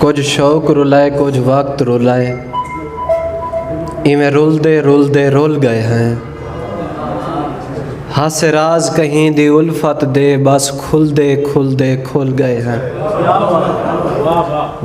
کجھ شوق رلائے کجھ وقت رلائے ایویں رلدے رلدے رل گئے ہیں ہاسے راز کہیں دی الفت دے بس کھلدے کھلدے کھل گئے ہیں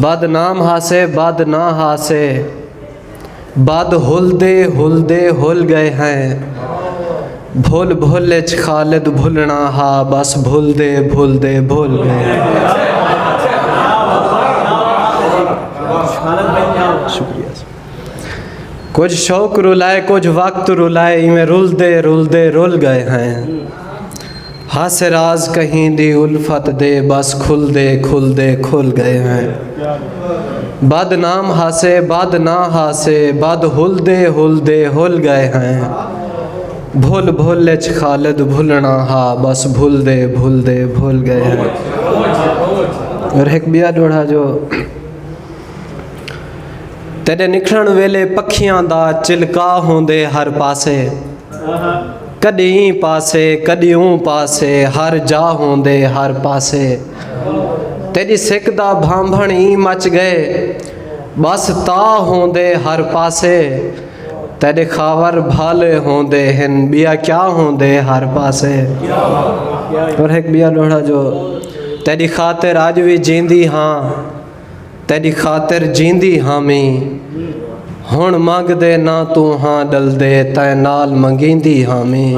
بد نام ہاسے بد نہ ہاسے بد ہلدے ہلدے ہل گئے ہیں بھل بھل اچ خالد بھلݨا ہا بس بھلدے بھلدے بھل گئے ہیں کجھ شوق رلائے کجھ وقت رلائے ایویں رلدے رلدے رل گئے ہیں ہاسے راز کہیں دی الفت دے بس کھلدے کھلدے کھل گئے ہیں بد نام ہاسے بد نہ ہاسے بد ہلدے ہلدے ہل گئے ہیں بھل بھل اچ خالد بھلنا ہا بس بھلدے بھلدے بھل گئے ہیں اور ہک بیا ڈوڑھا جو تیڈے نکھڑن ویلے پکھیاں دا چلکا ہوندے ہر پاسے کݙی ایں پاسے کݙی اوں پاسے ہر جا ہوندے ہر پاسے تیݙی سک دا بھانبھݨ ایں مچ ڳئے ٻس تا ہوندے ہر پاسے تیݙے خاور بھالے ہوندے ہن ٻیا کیا ہوندے ہر پاسے اور ہک ٻیا ݙوہڑا جو تیݙی خاطر اڄ وی جیندی ہاں تیݙی خاطر جیندی ہامیں ہݨ منگ دے نہ توں ہاں ݙلدے تیں نال منگیندی ہامیں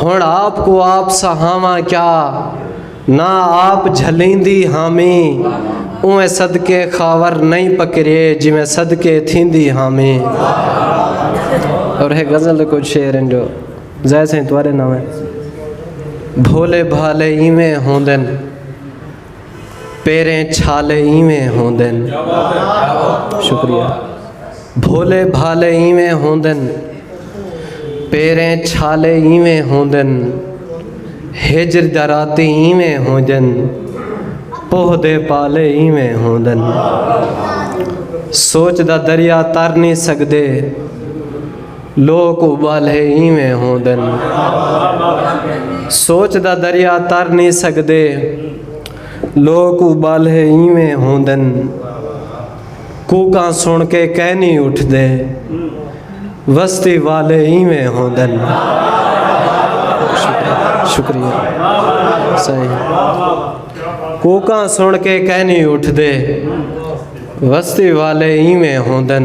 ہݨ آپ کو آپ سہاواں کیا نہ آپ جھلیندی ہامیں اوئیں صدقے خاور نئیں پکریے جویں صدقے تھیندی ہامیں اور ہے غزل کو شعر ہیں جو زیسے توارے نہ ہوئے بھولے بھالے ایویں ہوندن پیریں چھالے ایویں ہوندن شکریہ بھولے بھالے ایویں ہوندن پیریں چھالے ایویں ہوندن ہجر دراتی ایویں ہوندن پوہ دے پالے ایویں ہوندن سوچ دا دریا تر نہیں سکدے لوک ابالھے اینویں ہوندن۔ سوچ دا دریا تر نی سگدے۔ لوک ابالھے اینویں ہوندن۔ کوکاں سݨ کے کئے نی اٹھدے۔ وستی والھے اینویں ہوندن۔ شکریہ سائیں کوکاں سݨ کے کئے نی اٹھدے۔ وستی والھے اینویں ہوندن۔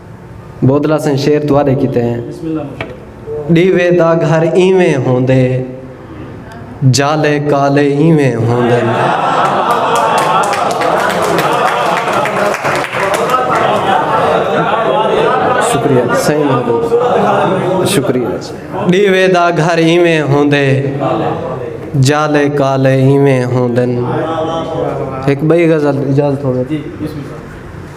بودلا سئیں شعر تہاݙے کیتے ہیں۔ ݙیوے دا گھر ایویں ہوندے جالے کالے ایویں ہوندن۔ ݙیوے دا گھر ایویں ہوندے جالے کالے ایویں ہوندن۔ ہک ٻئی غزل اجازت ہووے تاں۔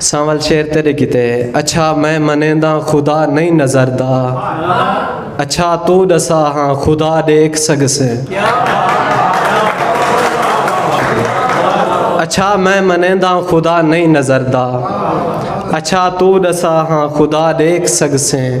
سانول شعر تیڈے کیتے ہے۔ اچھا میں منینداں خدا نئیں نظر دا اچھا توں ڈسا ہاں خدا ڈیکھ سگسیں اچھا میں منینداں خدا نئیں نظر دا اچھا توں ڈسا ہاں خدا ڈیکھ سگسیں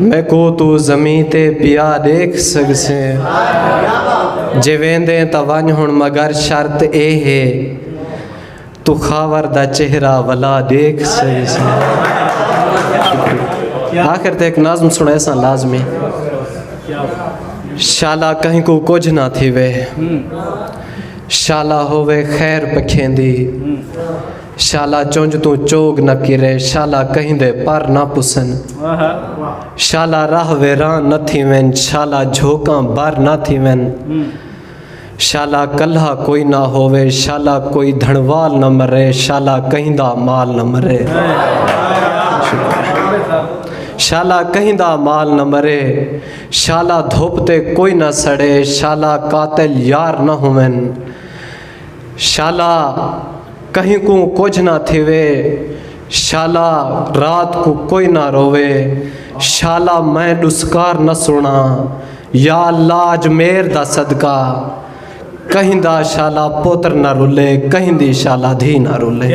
میکوں توں زمیں تے پیا ݙیکھ سڳسیں جے ویندیں تاں ونڄ ہݨ مگر شرط اے ہے توں خاور دا چہرہ ولا ݙیکھ سڳسیں آخر تے ہک نظم سݨیساں لازمی شالا کہنکوں کجھ نہ تھیوے شالا ہووے خیر پکھیندی شالا چنج توں چوگ نہ کرے شالا کہیں دے پر نہ پسن شالا راہ ویران نہ تھیون شالا جھوکاں بر نہ تھیون شالا کلہا کوئی نہ ہووے شالا کوئی دھنوال نہ مرے شالا کہیں دا مال نہ مرے شالا کہیں دا مال نہ مرے شالا دھوپ تے کوئی نہ سڑے شالا قاتل یار نہ ہوون شالا کہیں کوں کجھ نہ تھیوے شالا رات کوں کوئی نہ رووے شالا میں ڈسکار نہ سنڑاں یا اللہ اج میر دا صدقہ کہیں دا شالا پتر نہ رلے کہیں دی شالا دھی نہ رلے۔